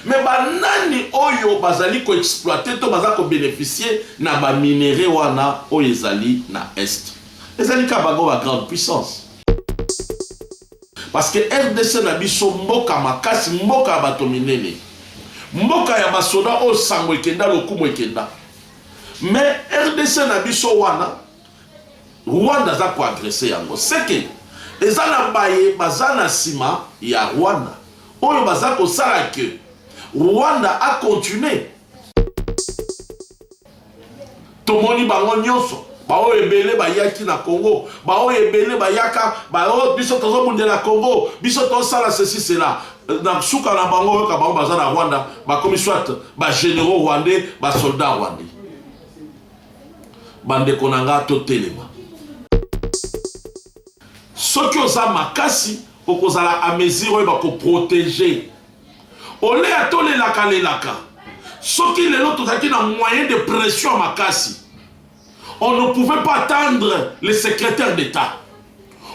Mais ba nani oyo bazali ko exploiter to baza ko beneficier na ba minerais wana oyo ezali na Est? Ezali kaka bango ba grandes puissances. Parce que rdc na biso mboka makasi, mboka ya bato minene, mboka ya ba soda oyo sango ekenda lokumu ekenda. Mais rdc na biso wana Rwanda aza ko agresser yango. C'est que eza na baye baza na sima ya Rwanda. oyo baza kosala que Rwanda a continuer. Tomoni bango nyonso baoyo ebele bayaki na Congo, baoyo ebele bayaka baoyo biso tozobundela Congo, biso tosala ceci cela na suka na bango oyoka bango baza na Rwanda bakomi soit ba généraux rwandais, ba soldats rwandais. Bandeko na nga totelema, soki oza makasi Okozala a mesure oyeba ko proteger ole ya tolelaka lelaka soki lelo tozalaki na moyen de pression ya makasi on ne pouvait pas attendre le secrétaire d'état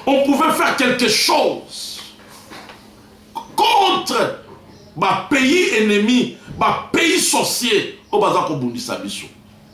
on pouvait faire quelque chose contre bapays ennemis bapays sorciers oyo baza kobundisa biso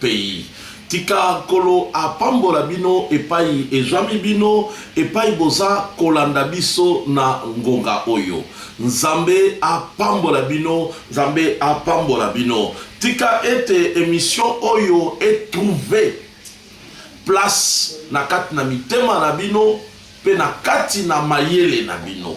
pays. Tika Nkolo apambola bino epai ezwami bino, epai boza kolanda biso na ngonga oyo. Nzambe apambola bino, Nzambe apambola bino. Tika ete emission oyo e trouver place na kati na mitema na bino mpe na kati na mayele na bino.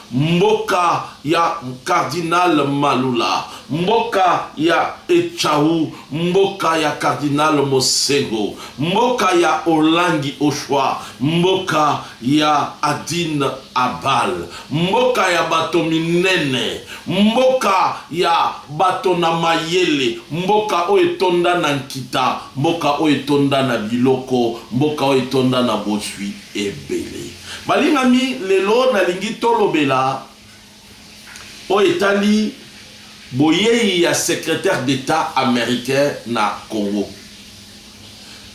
Mboka ya cardinal Malula, mboka ya Etshawu, mboka ya cardinal Mosengo, mboka ya Olangi Oshwa, mboka ya Adin Abal, mboka ya bato minene, mboka ya bato na mayele, mboka oyo etonda na nkita, mboka oyo etonda na biloko, mboka oyo etonda na bozwi. Ebele. Balingami, lelo nalingi tolobela oyo etali boyei ya secretaire d'Etat americain na Congo.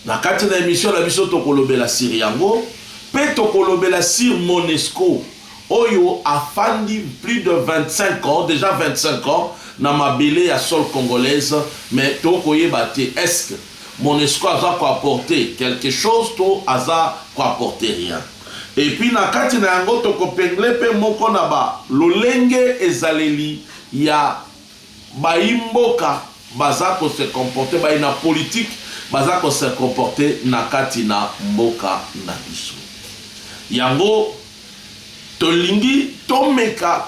Na kati na emission na biso tokolobela sur yango pe tokolobela sur Monesco oyo afandi plus de 25 ans, deja 25 ans na mabele ya sol congolaise mais tokoyeba te est-ce Monesco aza ko apporter quelque chose to aza ko apporter rien? Et puis na kati na yango toko pengler pe moko na ba lolenge ezaleli ya bayi mboka baza ko se comporter, bayi na politique baza ko se comporter na kati na mboka na biso. Yango. Tolingi tomeka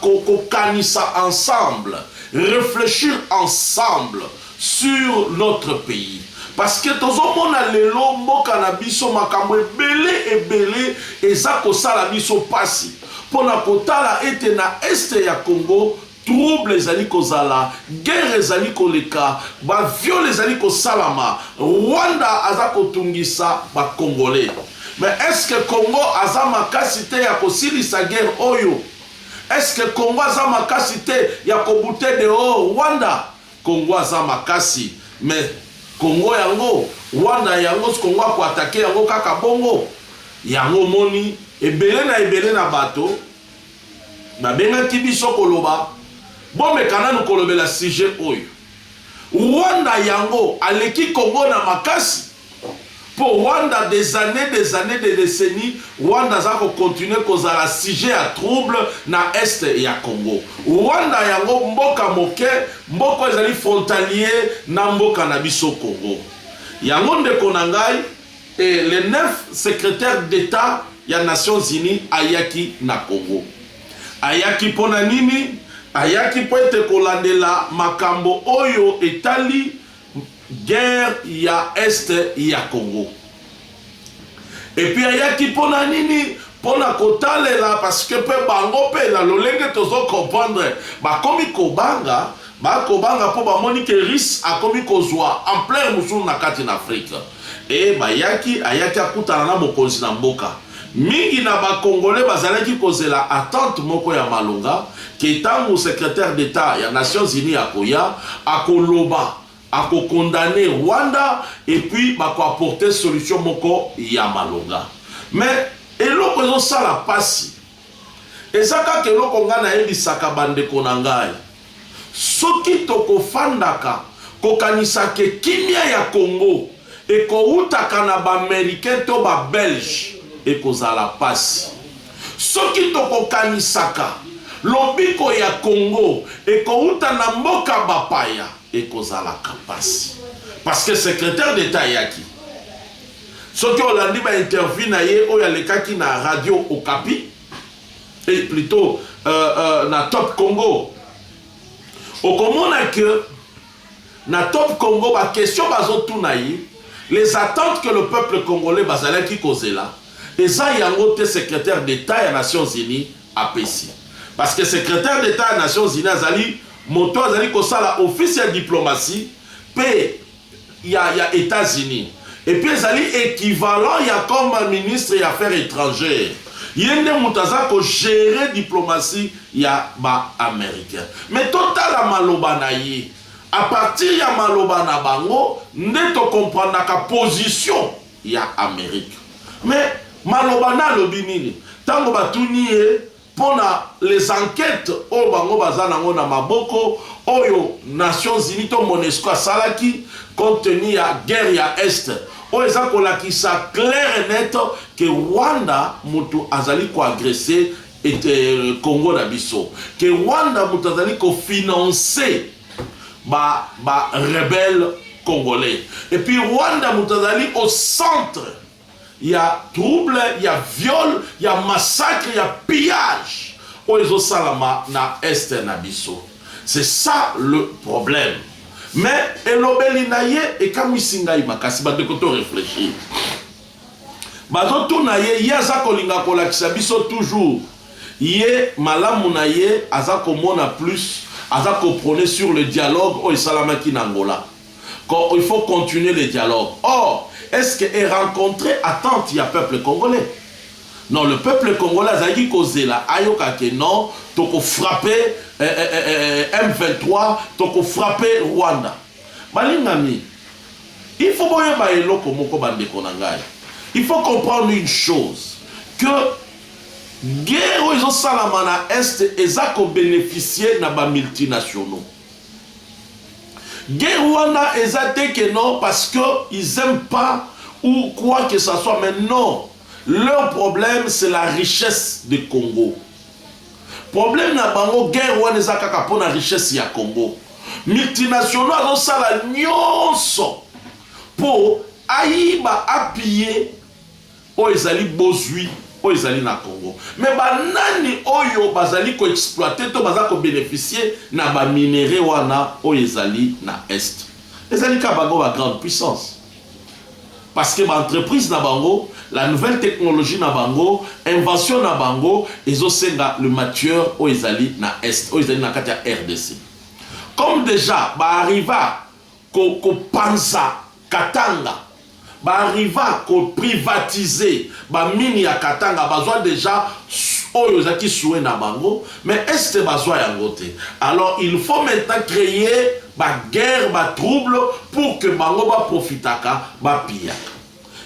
kokanisa ensemble, reflechir ensemble sur notre pays parce que tozo mona lelo mboka na biso makambo ebele ebele eza kosala biso pasi pona kotala ete na Est ya Congo Trouble ezali kozala, guerre ezali koleka, ba viol ezali kosalama, Rwanda aza kotungisa ba congolais. Mais est ce que Congo aza makasi te ya kosilisa guerre oyo? Est ce que Congo aza makasi te ya ko bouter dehors Rwanda? Congo aza makasi mais Congo yango, Rwanda yango Congo ako attaquer yango kaka bongo? Yango omoni ebele na ebele na bato Babengaki biso koloba bomeka nanu kolobela sujet oyo. Rwanda yango aleki Congo na makasi? Po Rwanda des annees des annees des decennies Rwanda aza ko continuer kozala sujet ya trouble na Est ya Congo. Rwanda yango mboka moke mboko ezali frontalier na mboka na biso Congo. Yango ndeko na ngai. Et le 9 secretaire d'etat ya Nations Unies ayaki na Congo. Ayaki mpo na nini? Ayaki mpo ete kolandela makambo oyo etali guerre ya est ya Congo. Et puis ayaki mpo na nini? Mpo na kotalela parce que mpe bango mpe na lolenge tozo comprendre bakomi kobanga Ba kobanga mpo bamoni que Russe akomi kozua ampleur mosusu na kati na Afrique. Et bayaki, ayaki akutana na mokonzi na mboka. Mingi na ba Congolais bazalaki kozela attente moko ya malonga que tango Secretaire d'Etat ya Nations Unies akoya, akoloba, ako condamner Rwanda et puis bako apporter solution moko ya malonga. Mais eloko ezosala pasi, Eza kaka eloko nga nayebisaka ba ndeko na ngai, soki tokofandaka kokanisake kimia ya Congo ekowutaka na ba Americain to ba Belge ekozala pasi. Soki tokokanisaka lobiko ya Congo ekowuta na mboka bapaya ekozalaka pasi. Parce que secretaire d'Etat ayaki. Soki olandi ba interview na ye oyo alekaki na radio Okapi et plutot euh, euh, na Top Congo okomona que na Top Congo ba question bazotuna ye les attentes que le peuple congolais bazalaki kozela eza yango te secrétaire d'État ya Nations Unies apesi parce que secrétaire d'État ya Nations Unies azali moto azali kosala office ya diplomatie pe ya, ya Etats-Unis et puis ezali equivalent ya comme ministre ya affaires etrangères ye nde moto aza ko gérer diplomatie ya ba americain mais totala maloba na ye à partir ya maloba na bango nde to comprendaka position ya Amerique mais maloba na alobi nini ntango batuni ye pona les enquetes oyo bango baza nango na maboko oyo nations unies to monesco asalaki compte tenu ya guerre ya est oyo eza kolakisa claire et net ke Rwanda mutu azali ko agresse et euh, Congo na biso ke Rwanda mutu azali ko financer ba ba rebelles congolais et puis Rwanda mutu azali au centre ya trouble ya viol ya massacre ya pillage oyo ezosalama na est na biso c'est ça le problème mais elobeli na ye ekamwisi ngai makasi bandeko to réfléchir bazotuna ye ye aza kolinga kolakisa biso toujours ye malamu na ye aza komona plus aza koprone sur le dialogue oyo esalamaki na angola Ko il faut continuer le dialogue or est ce que e rencontrer attente ya peuple congolais? Non le peuple congolais azalaki kozela ayoka ke non toko frapper eh, eh, eh, eh, M23 toko frapper Rwanda. Balingami il faut boyeba eloko moko bandeko na ngai il faut comprendre une chose que guerre oyo ezosalama na est eza kobeneficie na bamultinationaux Guerre wana eza te que non parce que ils aiment pas ou quoi que ça soit mais non leur problème c'est la richesse de Congo. Problème na bango guerre wana eza kaka pona richesse ya Congo. Multinationaux azosala nyonso po ayiba apiller Oyo ezali bozwi oyo ezali na Congo. Mais ba nani oyo bazali ko exploiter to baza ko beneficier na ba minerais wana oyo ezali na Est? Ezali kaka bango ba grandes puissances. Parce que ba entreprises na bango, la nouvelle technologie na bango, invention na bango ezo senga le matieur oyo ezali na Est, oyo ezali na kati ya rdc. Comme dejà ba arriva ko panza Katanga ba arriva ko privatiser ba mines ya Katanga bazwa dejà oyo ezalaki souhait na bango mais est bazwa yango te alors il faut maintenant creer ba guerre ba trouble pour que bango ba profitaka ba piyaka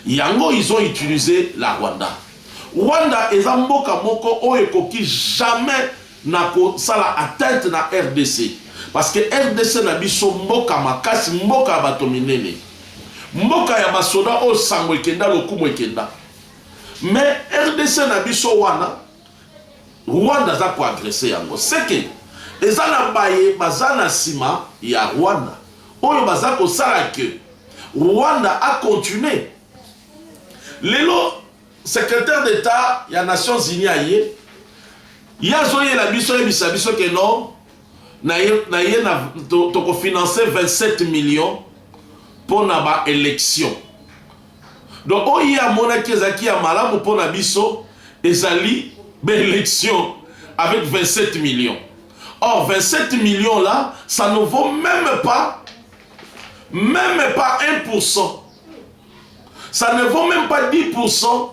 yango ils ont utilise la Rwanda. Rwanda eza mboka moko oyo ekoki jamais na ko sala atteinte na rdc parce que rdc na biso mboka makasi mboka ya bato minene mboka ya ba soda oyo sango ekenda lokumu ekenda mais rdc na biso wana Rwanda aza ko agresser yango seke eza na baye baza na sima ya Rwanda oyo baza ko sala que Rwanda a continuer lelo Secretaire d'Etat ya Nations Unies aye, ye azoyela biso ayebisa biso que non na ye, na ye na toko financer 27 millions mpo na ba elections. Donc oyo ye amonaki ezalaki ya malamu mpo na biso ezali ba elections avec 27 millions. Or 27 millions là, ça ne vaut même pas, même pas 1% ça ne vaut même pas 10%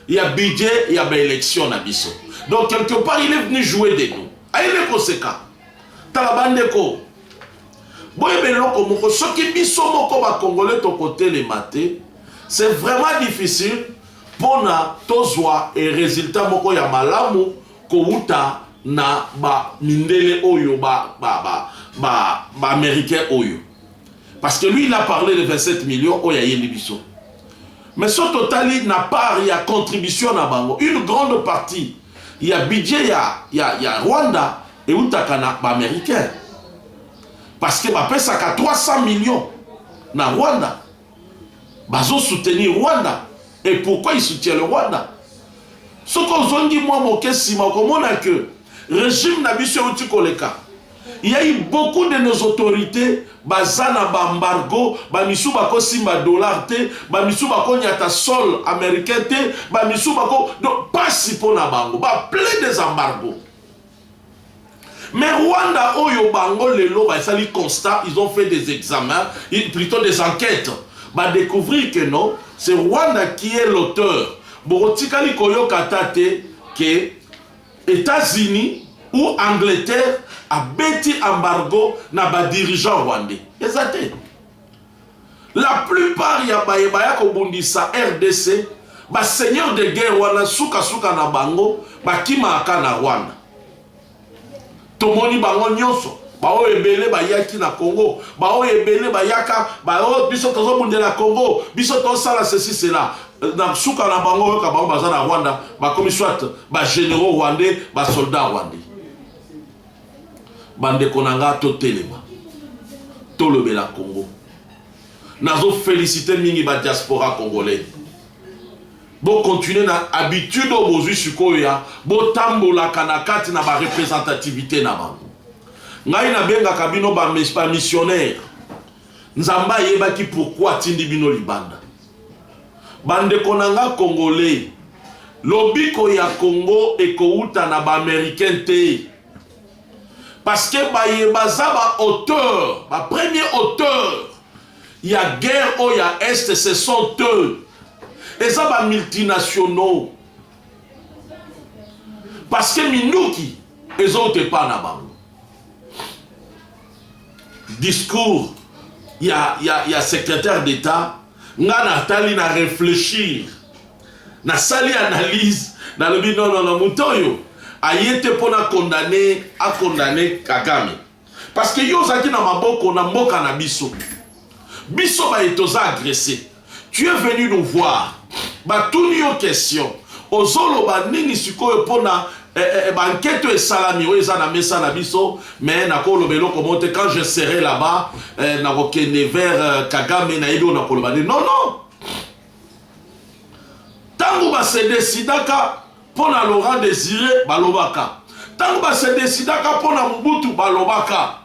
ya budget ya ba élection na biso donc quelque part il est venu jouer de nous ayele koseka tala bandeko boyeba eloko moko soki biso moko bakongole tokotelema te c'est vraiment difficile mpona tozwa e résultat moko ya malamu kowuta na ba mindele oyo ba ba ba ba, ba américain oyo parce que lui il a parlé de 27 millions oyo ayeli biso mais so totali na part ya contribution na bango une grande partie ya budget ya, ya, ya rwanda eutaka na baaméricain parce que bapesaka 300 millions na rwanda bazosoutenir rwanda et pourquoi il soutient le rwanda soki ozongi mwa moke nsima okomona que regime na biso euti koleka Il y a eu beaucoup de nos autorités baza na ba embargo ba misu bako simba dollar te ba misu bako nyata sol américain te ba misu bako donc pasi pona bango ba plein des embargos mais Rwanda oyo bango lelo basali constat ils ont fait des examens plutôt des enquêtes ba découvrir que non c'est Rwanda qui est l'auteur bokotikali koyoka ata te que Etats-Unis ou Angleterre abeti embargo na ba dirigeants rwandais? Eza te. La plupart ya baye baya kobundisa rdc, ba seigneurs de guerre wana suka suka na bango bakimaka na Rwanda. Tomoni bango nyonso baoyo ebele bayaki na Congo, baoyo ebele bayaka baoyo biso tozobundela Congo, biso tosala ceci cela na suka na bango oyoka bango baza na Rwanda bakomi soit ba généraux rwandais ba soldats rwandais. Bandeko na nga totelema tolobela Congo. Nazo felicite mingi ba diaspora congolais. Bo continuer na habitude oyo bozui sikoyo ya bo tambolaka na kati na ba representativite na bango. Ngai na bengaka bino ba missionnaire. Nzambe ayebaki pourquoi atindi bino libanda. Bandeko na nga Congolais, lobiko ya Congo ekouta na ba Americain te. Parce que baye baza ba auteur, ba premier auteur ya guerre oyo ya est ce sont eux eza ba multinationaux parce que minduki ezouta epai na bango discours ya, ya, ya secrétaire d'état nga natali na réfléchir nasali analyse nalobi nonono moto oyo aye te mpo na condamne akondamne kagame Parce que yo ozalaki na maboko na mboka na biso. Biso baye toza agresse. Tu es venu nous voir. Batuni yo question. Ozoloba nini sikoyo pona eh, eh, eh ba enquête oyo esalami oyo eza na mesa na biso mais nakoloba eloko moko te quand je serai là-bas eh, nakokende vers euh, kagame nayebi oyo nakoloba nde non non ntango basedesidaka Mpo na Laurent Desire, balobaka. Tango ba se decidaka mpo na Mobutu, balobaka.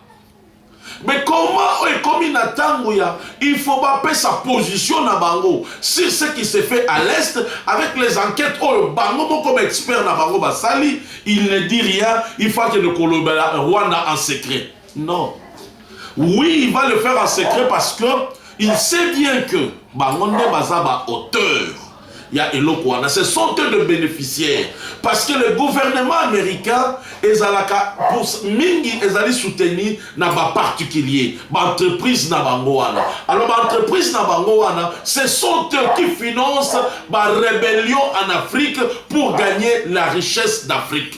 Mais comment oyo ekomi na tango ya il faut bapesa position na bango sur ce qui se fait à l'est avec les enquêtes oyo bango moko ba expert na bango basali il ne dit rien il faut akende kolobela Rwanda en secret Non. Oui, il va le faire en secret parce que il sait bien que bango nde baza ba auteur ya eloko wana ce sont eux de bénéficiaires parce que le gouvernement américain ezalaka pour mingi ezali soutenu na baparticulier baentreprise na bango wana alors baentreprise na bango wana ce sont eux qui financent barébellion en afrique pour gagner la richesse d'afrique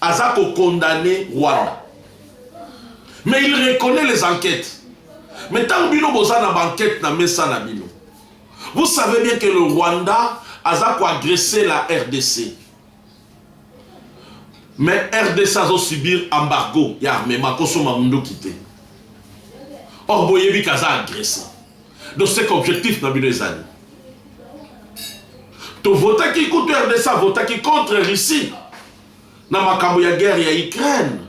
aza ko condamne Rwanda mais il reconnaît les enquêtes mais ntango bino boza na banquete na mesa na bino vous savez bien que le Rwanda aza koagresse la rdc mais rdc azosubir embargo ya armement kosomba munduki te or boyebi kaza agresse donc ce qu'objectif na bino ezali tovotaki kutu rdc avotaki contre russie na makambo ya guerre ya Ukraine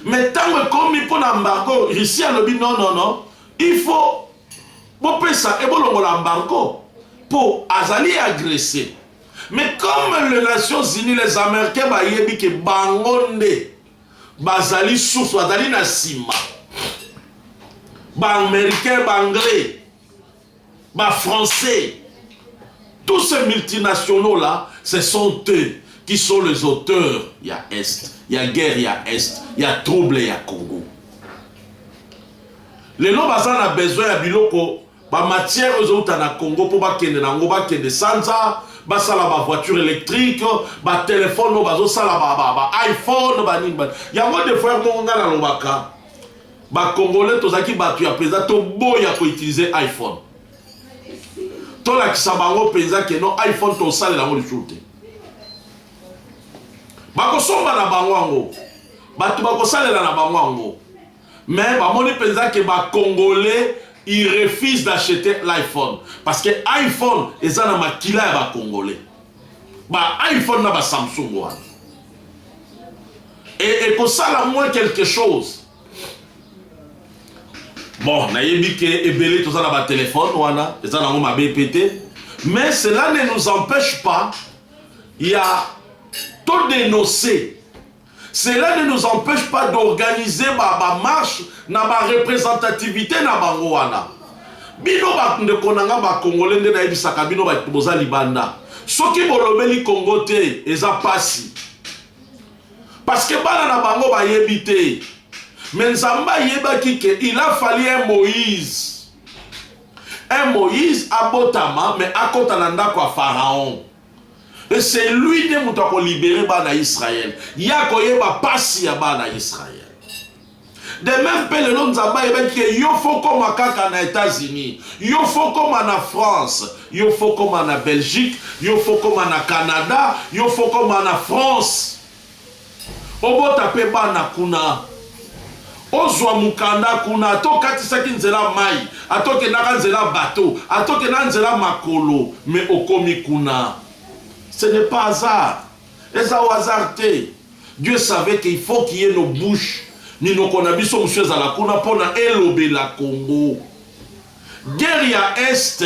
mais ntango ekomi mpo na embargo Russie alobi non non non il faut bopesa ebolongola embargo mpo azali agresse mais comme les nations unies les américains bayebi ke bango nde bazali source bazali na nsima baaméricain baanglais Ba français tous ces multinationaux là ce sont eux qui sont les auteurs ya est ya guerre ya est ya trouble ya Congo lelo baza na besoin ya biloko bamatière oyo ezowuta na congo mpo bakende na yango bakende sanza basala bavoiture électrique batelefone oyo bazosala baiphone banini yango defoire moko ngai nalobaka Ba congolais tozalaki batu ya penza toboya ko utiliser iPhone. Tolakisa bango penza ke no iPhone tosalela yango lisusu te. Bakosomba na bango yango. Bato bakosalela na bango yango. Mais bamoni penza ke ba congolais ils refusent d'acheter l'iPhone parce que iPhone eza na makila ya ba congolais. ba iPhone na ba Samsung wana et ekosala moins quelque chose bon nayebi ke ebele toza na batelefone wana eza nango mabe mpe te mais cela ne nous empêche pas ya todénonce Cela ne nous empeche pas d'organiser ba ba marches na ba representativites na bango wana. Bino ba ndeko na nga ba congolais nde nayebisaka bino ba boza libanda. Soki bolobeli Congo te eza pasi. Parce que bana na bango bayebi te. Mais Nzambe ayebaki que il a fallu un Moïse un Moïse abotama me akota na ndako ya Pharaon. Et c'est lui nde moto ako libere bana Israël. Ye akoyeba pasi ya bana Israël. De même mpe lelo Nzambe ayebaki ke yo fo koma kaka na Etats-Unis, yo fo koma na France, yo fo koma na Belgique, yo fo koma na Canada, yo fo koma na France. obota pe bana kuna, ozwa mokanda kuna, ata okatisaki nzela ya mayi, ata okendaka nzela ya bateau, ata okendaka nzela ya makolo, mais okomi kuna. Ce n'est pas hasard. Eza hasard te. Dieu savait qu'il faut qu'il y ait nos bouches, minoko na biso mosusu ezala kuna pona elobela Congo. Guerre ya Est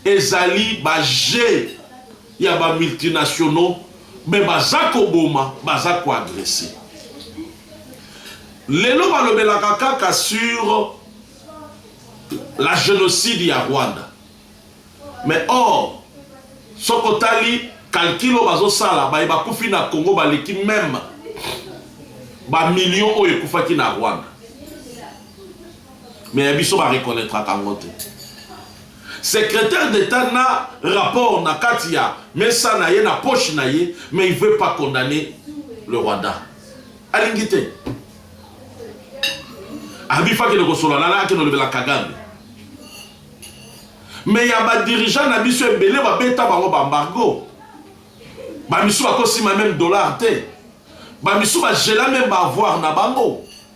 ezali ba jeux. ya ba multinationaux mais baza koboma baza ko agresse lelo balobelaka kaka sur la génocide ya Rwanda mais or soki otali calcul oyo bazosala baye bakufi na Congo baleki meme bamillion oyo ekufaki na Rwanda mais ya biso bareconnaitraka yango te Secretaire d'Etat na rapport na kati ya mesa na ye, na poche na ye, mais il veut pas condamner le Rwanda. Alingi te. Alobi faut akende kosolola na akende olobela Kagame. Mais ya ba dirigeants na biso ebele babeta bango ba embargo. Ba misu bakosima même dollar te. Ba misu ba gela même ba avoir na bango.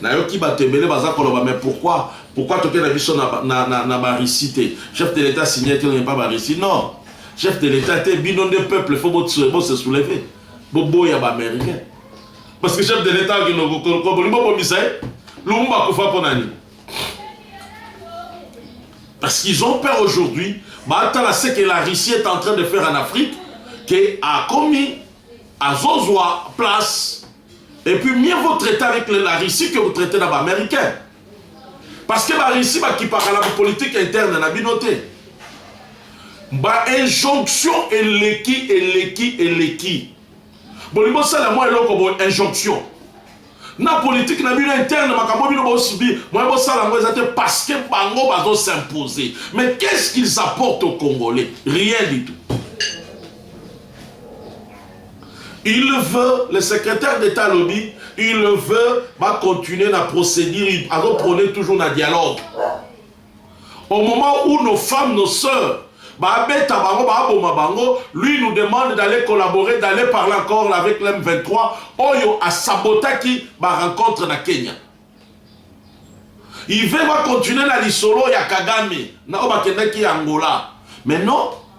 nayoki bato ebele baza koloba mais pourquoi pourquoi toke na biso na, na, na, na barisi te chef de l'état signe te oyepa barisi non chef de l'état te bino nde peuple fo bose souleve boboya baaméricain parce que chef de l'état akinokobolingi bobomisa ye lumumba akufa mpo na nini parce qu'ils ont peur aujourd'hui batala ce que la russie est en train de faire en afrique ke akomi azozwa place et puis mieux vaut traiter avec la Russie que vous traiter na ba américains parce que ba Russie bakipaka na politique interne na bino te ba injonction eleki eleki eleki bolingi bosala mwa eloko bo injonction na politique na bino interne makambo bino bo subir moyen bosala yango eza te parce que bango bazo s'imposer mais qu'est-ce qu'ils apportent aux congolais rien du tout il veut le secrétaire d'état alobi il veut bacontinue na procédure azoprône toujours na dialogue au moment où nos femmes nos sœurs baabeta bango baaboma bango lui nous demande d'aller collaborer d'aller parler encore avec l'M 23 oyo asabotaki ba rencontre na Kenya il veut va continuer na lisolo ya Kagame na oyo bakendaki Angola mais non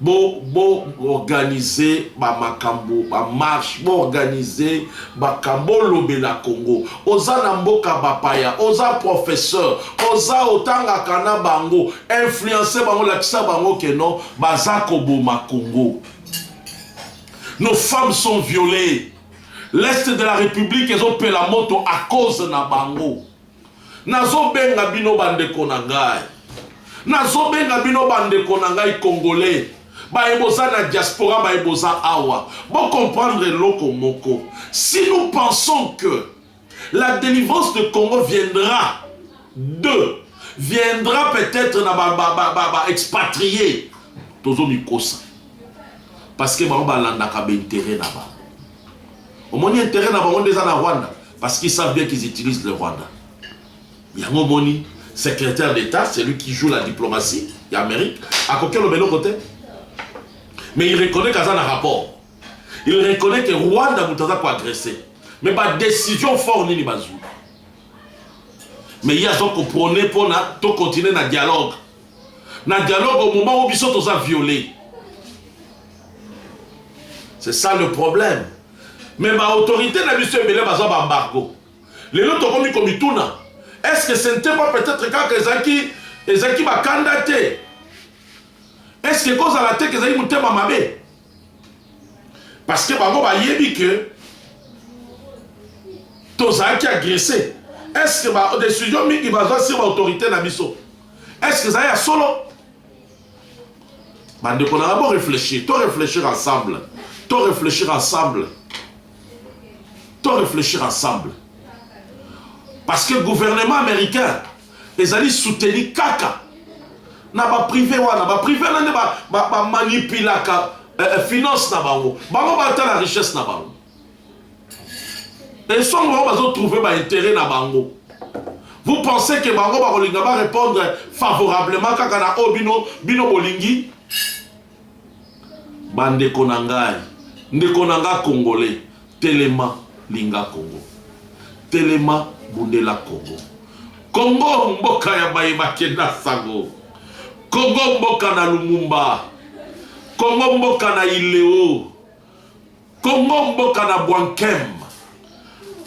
bo bo organiser ba makambo ba marche bo organiser makambo lobela Congo oza na mboka bapaya oza professeur oza otangaka na bango influencer bango lakisa bango que non baza koboma Congo nos femmes sont violées l'est de la république ezopela moto à cause na bango Nazobenga bino bandeko na ngai, nazobenga bino bandeko na ngai Congolais, baye boza na diaspora, baye boza awa, bo comprendre eloko moko. Si nous pensons que la delivrance de Congo viendra de viendra peut-être na ba ba ba ba expatriés, tozo mikosa parce que bango balandaka ba intérêt na bango. omoni interet na bango nde eza na rwanda parce qu'ils savent bien qu'ils utilisent le rwanda yango omoni secrétaire d'état celui qui joue la diplomatie ya amérique akoki oloba eloko te mais il reconnaît kaza na rapport il reconnaît que rwanda moto aza koagresse mais badécision fort nini bazwi mais ye azokoprone mpona tokontinue na dialogue na dialogue au moment où biso toza violé c'est ça le problème mais baautorité na biso ebele baza baembargo lelo tokomi komituna est ce que ce n'était pas peut-être kaka ezalaki ezalaki bakanda te est ce que ekozala te ke ezalaki motema mabe parce que bango bayebi que tozalaki agresse est ce que badécision mingi bazwa sur baautorité na biso est ce que ezali ya solo bandeko nanga bo réfléchir to réfléchir ensemble to réfléchir ensemble to réfléchir ensemble parce que gouvernement américain ezali soutenu kaka na ba prive wana ba prive wana nde bamanipulaka ba, ba eh, eh, finance na bango bango batala richesse na bango esongo bango bazotrouve baintérêt na bango vous pensez ke bango bakolinga barépondre favorablement kaka na oyo bino bino bolingi Bandeko na ngai, ndeko na nga Congolais, telema linga Congo. Telema bundela Congo. Congo mboka ya baye bakenda sango. Congo mboka na Lumumba. Congo mboka na Ileo. Congo mboka na bwankem.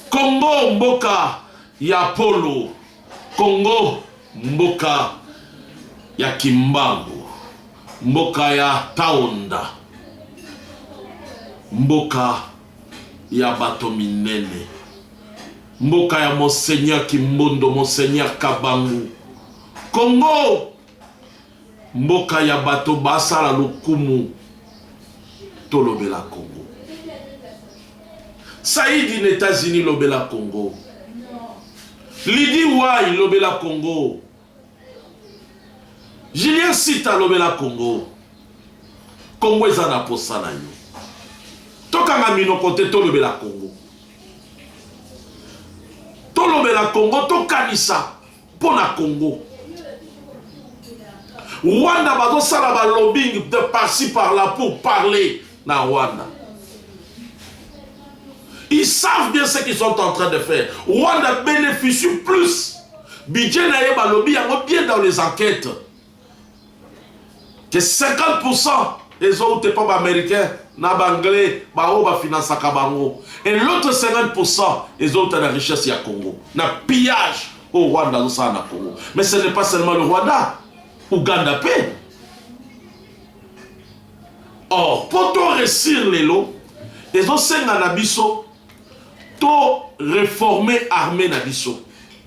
Congo mboka ya polo. Congo mboka ya kimbangu. Mboka ya taonda. Mboka ya bato minene. Mboka ya monseigneur kimbondo, monseigneur kabangu. Congo! Mboka ya bato ba sala lokumu to lobela Congo. Saïdi na Etats Unis lobela Congo. Lydie Wai lobela Congo. Julien Sita lobela Congo. Congo eza na posa na yo. Tokanga minoko te tolobela Congo. Tolobela Congo tokanisa mpo na congo rwanda bazosala balobing de parci par là pour parler na rwanda ils savent bien ce qu'ils sont en train de faire rwanda bénéficie plus budget na ye balobi yango bien dans les enquêtes ke 50% ezowuta epa ba americain na ba anglais baoyo bafinansaka bango et l'autre 50% ezowuta na richesse ya congo na pillage oyo rwanda azosala na congo mais ce n'est pas seulement le rwanda uganda mpe or mpo to resir lelo ezosenga na biso to reformer armée na biso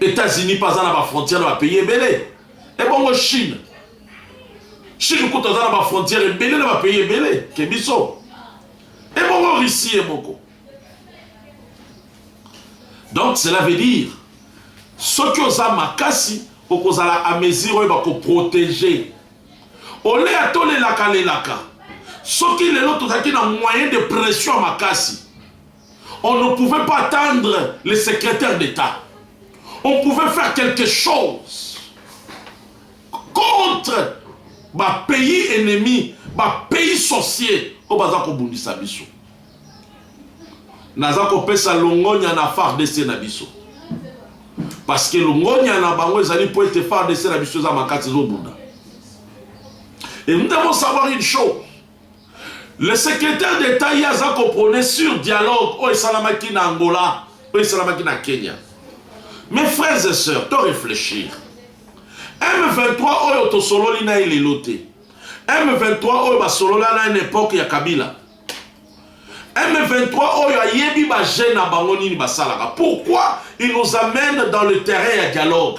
Etats-Unis mpe aza na bafrontière na bapays ebele ebongo Chine Chine kutu aza na bafrontière ebele na bapays ebele ke biso ebongo Russie ye moko donc cela veut dire soki oza makasi okozala a mesure oyo bakoprotege oleya tolelaka lelaka soki lelo tozalaki na moyen de pression makasi On ne pouvait pas attendre le secrétaire d'État. On pouvait faire quelque chose contre ba pays ennemis, ba pays sorciers oyo baza kobundisa biso. Naza kopesa longonya na FARDC na biso. Parce que longonya na bango ezali mpo ete FARDC na biso eza makasi ezobunda. Et nous devons savoir une chose Le secrétaire d'État ye aza koprone sur dialogue oyo esalamaki na Angola oyo esalamaki na Kenya. Mes frères et sœurs, to réfléchir. M23 oyo tosololi na ye lelo te. M23 oyo basolola na ye na epoque ya Kabila. M23 oyo ayebi ba jeunes na bango nini basalaka. Pourquoi il nous amène dans le terrain ya dialogue?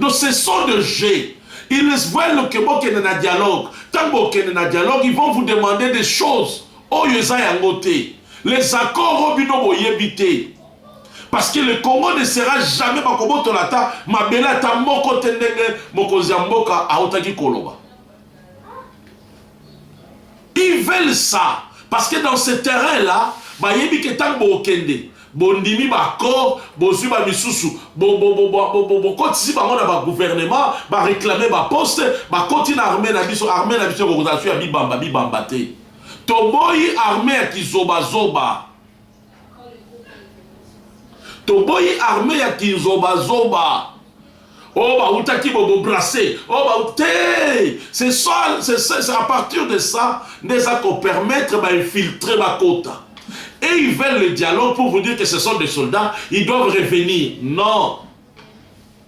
Donc ce sont des jeux. Ils veulent que bokende na dialogue. Tant bokende na dialogue, ils vont vous demander des choses. Oyo oh, eza yango te. Les accords oyo oh, bino boyebi te. Parce que le Congo ne sera jamais bakobotola ata mabele ata moko te ndenge mokonzi ya mboka autaki koloba. Ils veulent ça parce que dans ce terrain là bayebi que tango bokokende bondimi ba accords bozui ba misusu bokotisi bango na ba gouvernement ba reclamer ba poste bakoti na armee na biso armee na biso ekokozala su ya bibamba bibamba te toboyi armee ya kizobazoba toboyi arme ya kinzobazoba oyo oh, bautaki bobobrase oyo oh, ba te c'est ça c'est ça c'est à partir de ça nde eza kopermettre bainfiltre bakota et ils veulent le dialogue pour vous dire que ce sont des soldats ils doivent revenir non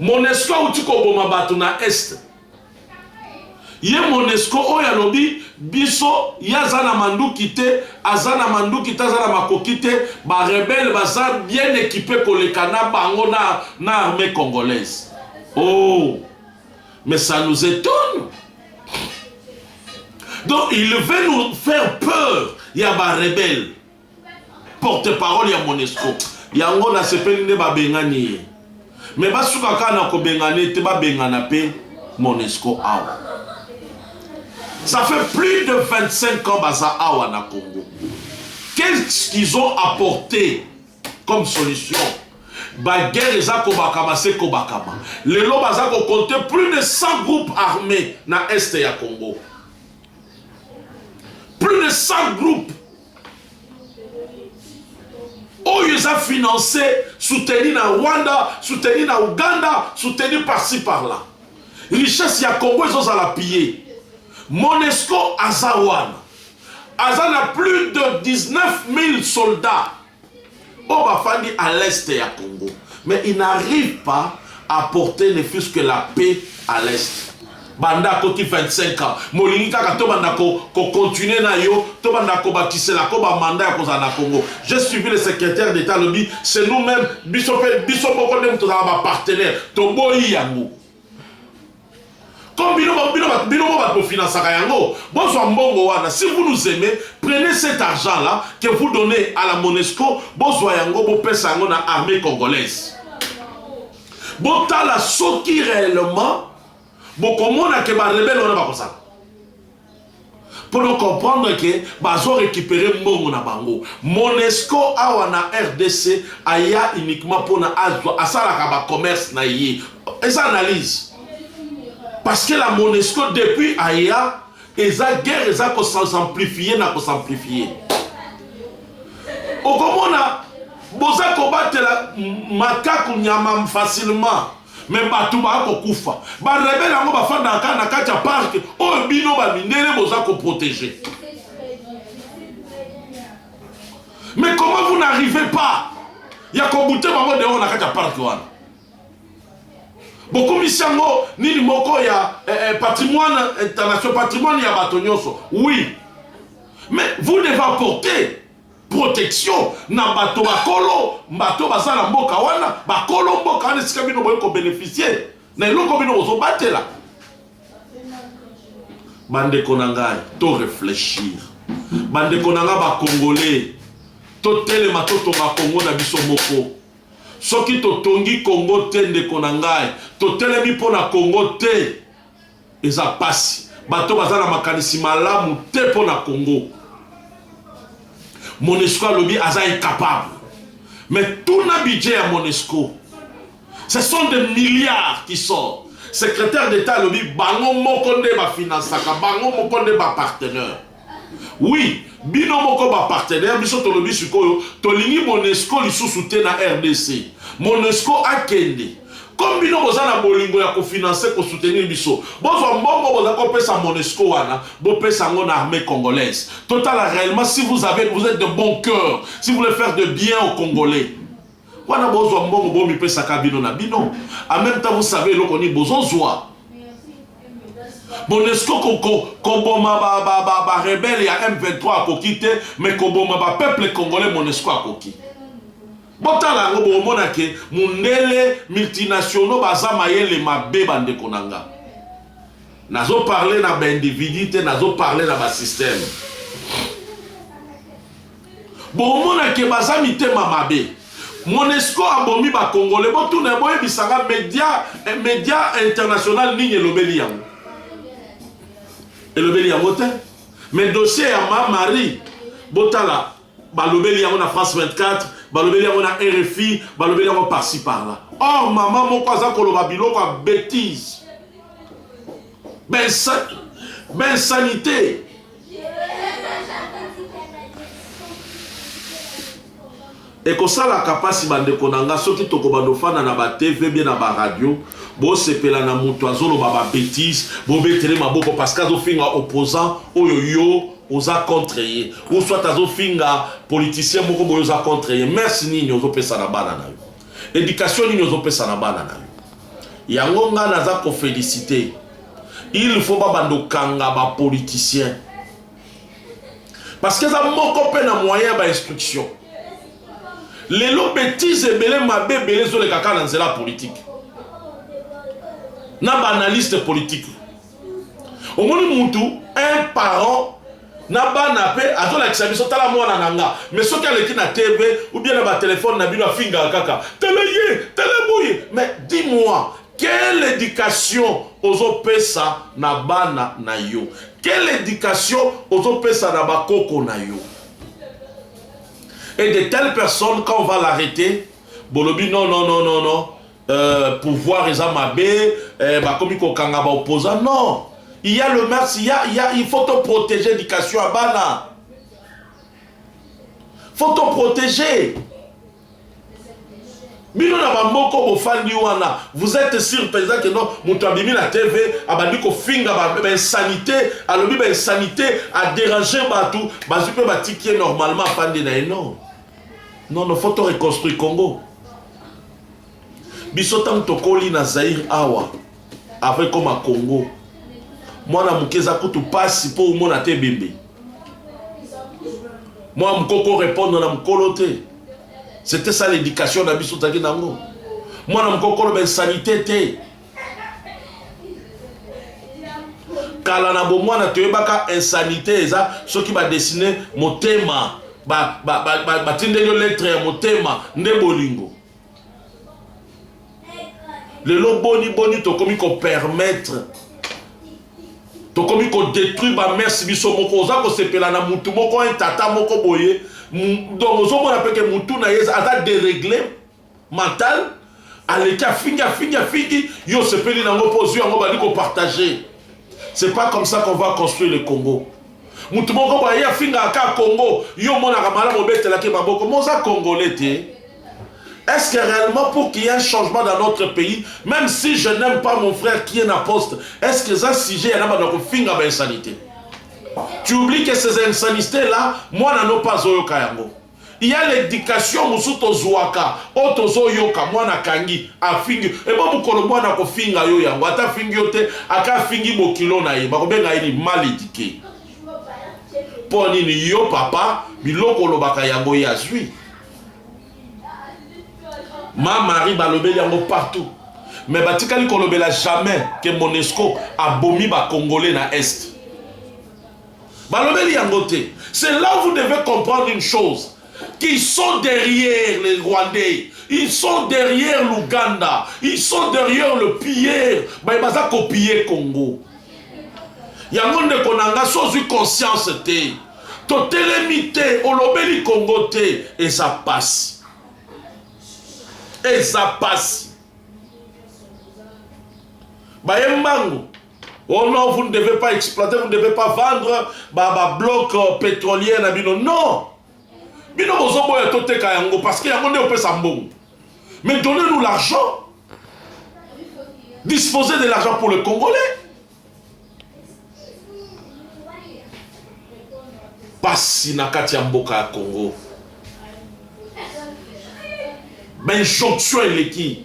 Monesco auti koboma bato na Est. Ye Monesco oyo alobi biso ye aza na manduki te, aza na manduki te, aza na makoki te, ba rebelle baza bien equipe koleka na bango na, na armee congolaise. Oh, mais ça nous étonne. Donc il veut nous faire peur ya ba rebelle. porte parole ya monesco yango nasepeli nde babengani ye me basuka kaka na kobengana ye te babengana mpe monesco awa ça fait plus de 25 ans baza awa na congo qu'est-ce qu'ils ont apporté comme solution baguerre eza kobakama se kobakama lelo baza kokonte plus de 100 groupes armés na este ya congo plus de 100 groupes oyo eza finance soutenu na rwanda soutenu na uganda soutenu parci par là richesse ya congo ezozala pille monesco aza wana aza na plus de 19 000 soldats oyo bafandi à l'est ya congo mais il n'arrive pas à porter ne fût-ce que la paix à l'est banda akoti 25 ans molingi kaka tobanda kocontinue ko na yo tobanda kobakisela ko bamanda ya kozala na congo je suivi le secrétaire d'état alobi c'est nous-même biso mpe biso moko nde tozala bapartenaire toboyi yango Comme bino ba bino ba bino ba kofinansaka yango, bozwa mbongo wana. Si vous nous aimez, prenez cet argent là que vous donnez à la Monesco, bozwa yango bopesa yango na armée congolaise. Botala soki réellement bokomona ke ba rebelle wana bakozala. pour comprendre que bazo recuperer mbongo na bango monesco awa na rdc aya uniquement pona azwa asalaka ba commerce na ye eza analyse parce que la monesco depuis aya eza guerre eza ko s'amplifie na ko s'amplifie okomona boza kobatela makaku nyama facilement mais bato baya kokufa barebele yango bafandaka kaka na kati ya parke oyo bino bamindele boza koprotege mais comment vous n'arrivez pas ya kobute bango deoko na kati ya parke wana bokomisi yango nini moko ya eh, eh, patrimoine international patrimoine ya bato nyonso oui mais vous devez apporter protection na bato bakolo bato baza na mboka wana bakolo mboka wana esika bino boye kobeneficie na eloko bino bozobatela bandeko na ngai to réfléchir bandeko na ngai bacongolais totelema totonga kongo na biso moko soki totongi kongo te ndeko na ngai totelemi mpo na kongo te Eza pasi bato baza na makanisi malamu te mpo na Congo. Monesco alobi aza incapable. Mais tout na budget ya Monesco. Ce sont des milliards qui sortent. Secrétaire d'État alobi bango moko nde ba financaka, bango moko nde ba partenaires. Oui, bino moko ba partenaires biso tolobi sikoyo tolingi Monesco lisusu te na rdc. Monesco akende. Comme bino boza na bolingo ya ko financer, ko soutenir biso, bozwa mbongo boza ko pesa Monesco wana, bo pesa yango na armee congolaise. Totala reellement si vous avez, vous etes de bon cœur, si vous voulez faire de bien aux congolais. Wana bozwa mbongo bomi pesa ka bino na bino. En même temps vous savez eloko ni bozo zwa. Bonesco koboma ba ba ba ba rebelle ya M23 akoki te mais koboma ba peuple congolais Monesco akoki. Botala yango bomona ke mundele multinationaux baza mayele mabe bandeko na nga. Nazo parler na ba individu te nazo parler na ba système. bomona ke baza mitema mabe monesco abomi bakongole botuna boyebisanga media eh, media international nini elobeli yango elobeli yango te mais dossier ya ma marie botala balobeli yango na france 24 balobeli yango na rfi balobeli yango parci par là or mama moko aza koloba biloko ya bétise bensanité ben ekosalaka mpasi bandeko na nga soki tokobanda ofanda na batv bie na baradio bosepela na moto azoloba babetise bobetele maboko parceke azofinga opposant oyo yo oza contre ye uswat azofinga politicien moko boye oza contre ye merci nini ozopesa na bana na yo Education nini ozo pesa na bana na yo? Yango nga naza ko felicite il faut ba bando kanga ba politiciens parce que eza moko pe na moyen ya ba instruction lelo betise ebele mabe ebele ezoleka kaka na nzela ya politike na baanalyste politike omoni mutu un parent na bana pe azolakisa biso tala mwana na nga mais soki aleki na tv ou bien na batelefone na bino afingaka kaka tala ye tala boye mais dis moi quelle éducation ozopesa na bana na yo quelle éducation ozopesa na bakoko na yo et de telle personne quand on va l'arrêter bolobi non non non non non Euh, pouvoir eza mabe euh, bakomi kokanga ba opposant non il y a le max il y a, il y a il faut to protéger éducation ya bana faut to protéger bino na bamoko bofandi wana vous êtes sur mpenza ke no moto abimi na tv abandi kofinga bainsanité ba alobi bainsanité aderange bato bazwi mpe batiki ye normalement afandi na ye non non no fo to reconstruire congo biso ntango tokoli na zaire awa après koma congo mwana moke eza kutu mpasi mpo omona te ebembe mwana moke okorepondre na mokolo te c'était ça l'éducation na biso tozalaki nango mwana moke okoloba insanité te kala na bomwana toyebaka insanité eza soki badesine motema batindeli yo lettre ya motema nde bolingo lelo boni boni tokomi kopermettre tokomi kodétruire bamese biso moko oza kosepela na mutu moko un tata moko boye donc ozomona peke mutu na ye aza deregle mental aleki afingi afingi afingi yo osepeli na yango mpo ozwi yango bandi kopartage c'est pas comme ça qu'on va construire le congo motu moko boye afingaka kaka congo yo omonaka malamu obetelaki maboko mo oza congolais te Est-ce que réellement pour qu'il y ait un changement dans notre pays, même si je n'aime pas mon frère qui est na poste, est-ce que ça sujet à la finga ba insanité? Tu oublies que ces insanités là, moi n'en ai pas zoyo kayango. ya l'education mosusu tozuaka oyo tozoyoka mwana akangi afingi ebo mokolo mwana akofinga yo yango ata afingi yo te aka afingi bokilo na ye bakobenga ye ni mal eduke mpo nini yo papa biloko olobaka yango ye azwi ma marie balobeli yango partout mais batikali kolobela jamais ke monesco abomi bacongolais na est balobeli yango te c'est là vous devez comprendre une chose qui sont derrière les rwandais ils sont derrière l'ouganda ils sont derrière le piller baye baza kopiller congo yango ndeko na nga so ozwi conscience te totelemi te olobeli congo te eza pasi eza pasi baye mbangu Oh non, vous ne devez pas exploiter, vous ne devez pas vendre ba, ba bloc euh, pétrolier na bino. Non. Bino bozo boya to teka yango parce que yango nde opesa mbongo. Mais donnez-nous l'argent. Disposez de l'argent pour le Congolais. Pasi na kati ya mboka ya Congo. Ben jonction eleki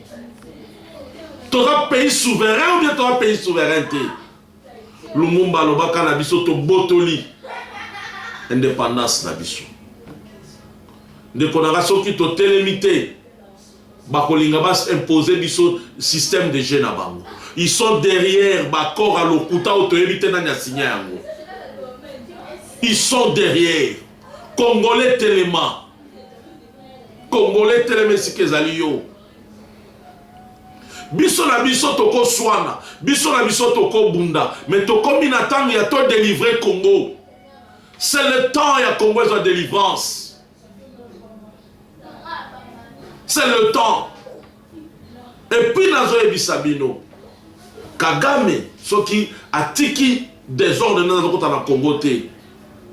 toza pays souverain ou bien toza pays souverain te lumumba alobaka na biso tobotoli indépendance na biso ndeko nanga soki totelemi te bakolinga baimpose biso système de jeu na bango ils sont derrière bacor ya lokuta oyo toyebi te nani asinya yango ils sont derrière Congolais telema. Congolais telema esika ezali yo. biso na biso tokoswana biso na biso tokobunda me tokomi na ntango ya to delivre congo c'est le temps ya congo ezwa délivrance c'est le temps Et puis nazo yebisa bino Kagame soki atiki desordre nde nazokota na Congo te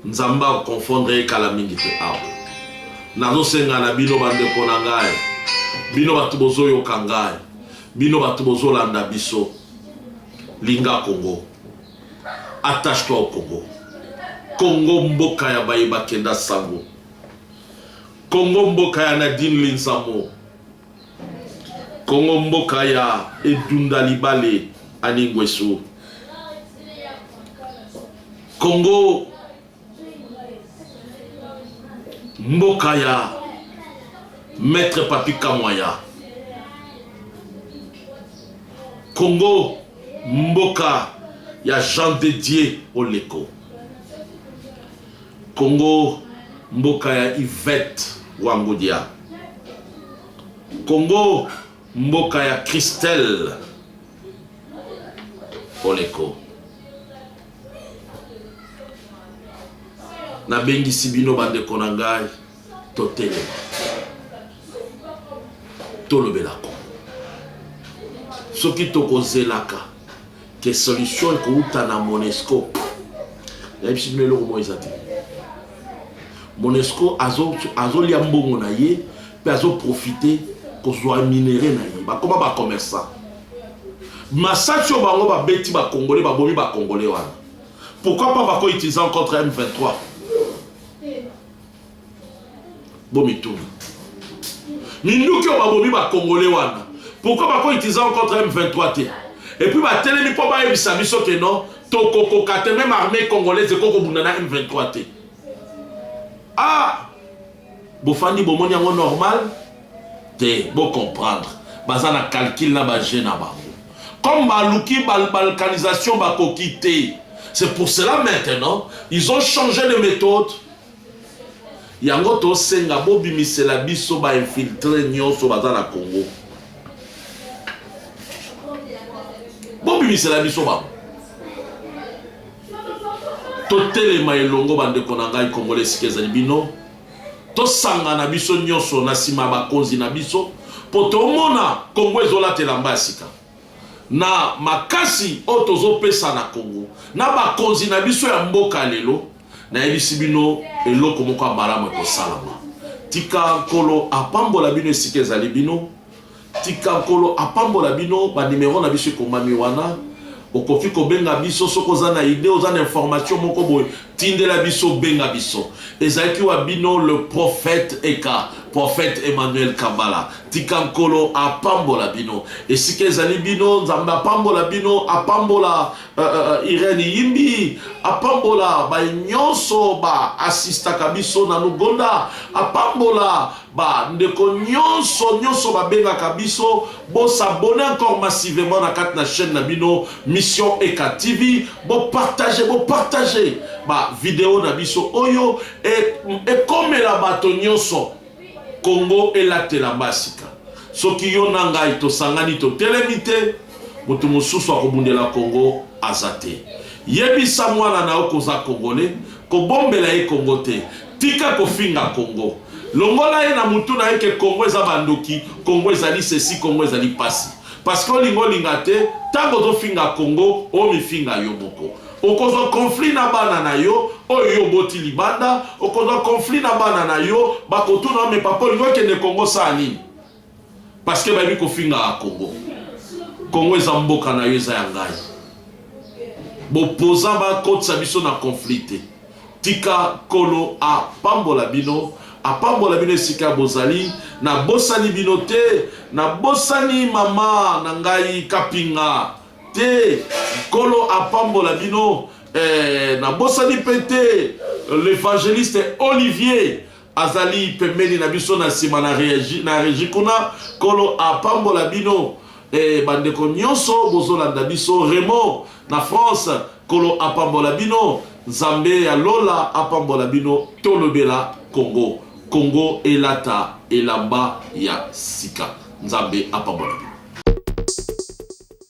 Nzambe akoconfondre ye kala mingi te awa nazosenga na bino bandeko na ngai bino bato bozoyoka ngai bino bato bozolanda biso linga Congo attache toi au Congo Congo mboka ya baye bakenda sango Congo mboka ya Nadine Linzamo Congo mboka ya edunda libale Annie Nguesu. Congo mboka ya Maître Papi Kamwaya. Congo mboka ya Jean de Dieu Oleko. Congo mboka ya Yvette Wangodia Congo mboka ya Christelle Oleko Nabengisi bino bandeko na ngai totelema tolobela Congo soki tokozelaka Ke solution ekouta na Monesco. Nayebisi bino eloko moko eza te. Monesco azolia azo mbongo na ye mpe azoprofite kozwa minere na ye, bakoma bacommerçant. Masasi oyo bango babeti bakongole, babomi bakongole wana, pourquoi pas bakoutiliza contre M23 bomituna minduki oyo babomi bakongole wana pourkoi bako utiliza ngo contre m23 te epuis batelemi mpo bayebisa biso ke non tokokoka te meme armée congolaise eko kobunda na m23 te ah bofandi bomoni yango normal te bocomprendre baza na calcule na baje na bango comme baluki balkanisation bakoki te c'est pour cela maintenant ils ont changé de méthode Yango tosenga bobimisela biso ba infiltre nyonso baza na Congo, bobimisela biso bango, totelema elongo bandeko na ngai Kongole esika ezali bino, tosangana biso nyonso na nsima ya bakonzi na biso mpo tomona Kongo ezolatela mba ya sika. na makasi oyo tozo pesa na Congo na ba konzi na biso ya mboka lelo na yebisi bino eloko moko ya malamu eko salama tika nkolo a pambola bino esika ezali bino tika nkolo a pambola bino ba numero na biso ekomami wana okoki kobenga biso soki oza na idee oza na information moko boye tindela biso benga biso ezalaki wa bino le prophète eka prophète emmanuel kambala Tika Nkolo apambola bino esika ezali bino. Nzambe apambola bino, apambola uh, uh, Irene Yimbi, apambola baye nyonso ba asistaka biso na Lugonda, apambola ba ndeko nyonso nyonso babengaka biso. Bosabone encore massivement na kati na chaîne na bino Mission Eka TV, bopartage bopartage ba video na biso oyo ekomela bato nyonso Congo elatela mba sika. Soki yo na ngai tosangani totelemi te, moto mosusu akobundela Congo aza te. Yebisa mwana na yo koza Congolais, kobombela ye Congo te. Tika kofinga Congo. Longola ye na mutu na ye ke Congo eza ba ndoki, Congo ezali ceci, Congo ezali pasi. Parce que olinga olinga te, tango ozofinga Congo, omifinga yo moko. Okozwa conflit na bana na yo oyo yo oboti libanda, okozwa conflit na bana na yo, bakotuna yo mais papa olingi okende Congo osala nini? Parce que bayebi kofingaka Congo. Congo eza mboka na yo eza ya ngai. Bopozan bakotisa biso na conflit te. Tika kolo apambola bino apambola bino esika bozali nabosani bino te nabosani mama na ngai kapinga te nkolo apambola bino eh, nabosani mpe te l'évangéliste olivier azali pembeni na biso na nsima na regi kuna nkolo apambola bino eh, bandeko nyonso bozolanda biso remo na france nkolo apambola bino nzambe ya lola apambola bino tolobela kongo kongo elata elamba ya sika nzambe apambola bino